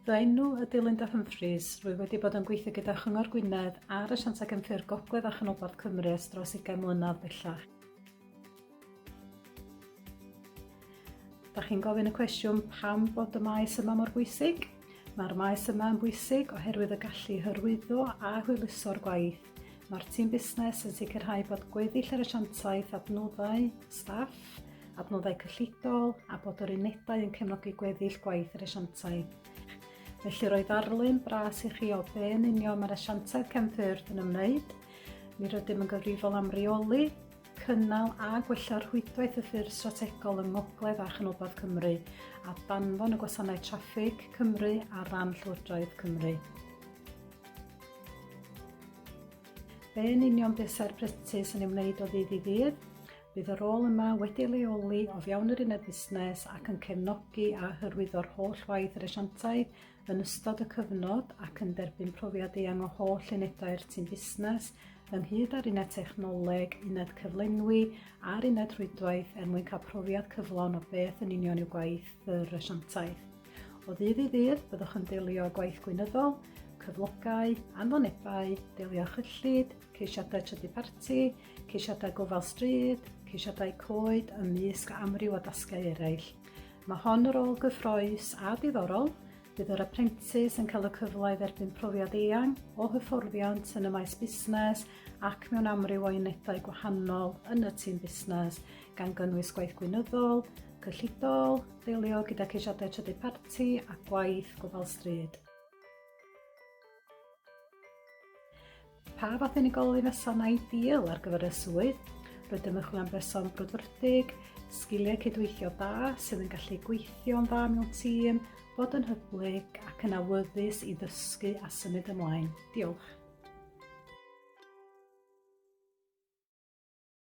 Fy enw ydy Linda Humphreys. Rwy wedi bod yn gweithio gyda Chyngor Gwynedd ar y Siantac Ymffur Gogledd a Chanolbarth Cymru ers dros 20 mlynedd bellach. Da chi'n gofyn y cwestiwn pam bod y maes yma mor bwysig? Mae'r maes yma yn bwysig oherwydd y gallu hyrwyddo a hwyluso'r gwaith Mae'r tîm busnes yn sicrhau bod gweddill yr asiantaeth, adnoddau, staff, adnoddau cyllidol a bod yr unedau yn cefnogi gweddill gwaith yr asiantaeth. Felly roedd arlun bras i chi o be yn union mae'r asiantaeth cefnffyrdd yn ymwneud. Mi rydym yn gyfrifol am reoli, cynnal a gwella'r rhwydwaith y ffyrdd strategol yng Ngogledd a Chanolbarth Cymru a danfon y gwasanaeth traffig Cymru ar ran Llywodraeth Cymru. Be yn union buasai'r practis yn ei wneud o ddydd i ddydd? Bydd y rôl yma wedi leoli o fewn yr uned busnes ac yn cefnogi a hyrwyddo'r holl waith yr asiantaidd yn ystod y cyfnod ac yn derbyn profiad eang o holl unedau'r tîm busnes ynghyd â'r uned technoleg, uned cyflenwi a'r uned rhwydwaith er mwyn cael profiad cyflawn o beth yn union yw gwaith yr asiantaeth. O ddydd i ddydd, byddwch yn deilio gwaith gwynyddol, cyflogau, anfonebau, deilio chyllid, ceisiadau trydy parti, ceisiadau gofal stryd, ceisiadau coed ymysg amryw o dasgau eraill. Mae hon yr ôl gyffroes a diddorol, bydd yr apprentice yn cael y cyfle i dderbyn profiad eang o hyfforddiant yn y maes busnes ac mewn amryw o unedau gwahanol yn y tîm busnes, gan gynnwys gwaith gwynyddol, cyllidol, ddelio gyda ceisiadau trydydd parti a gwaith gofal stryd. Pa fath unigolyn ysa'n ideal ar gyfer y swydd? Rydym yn chwilio am berson brwdfrydig, sgiliau cydweithio da sydd yn gallu gweithio'n dda mewn tîm, bod yn hyblyg ac yn awyddus i ddysgu a symud ymlaen. Diolch.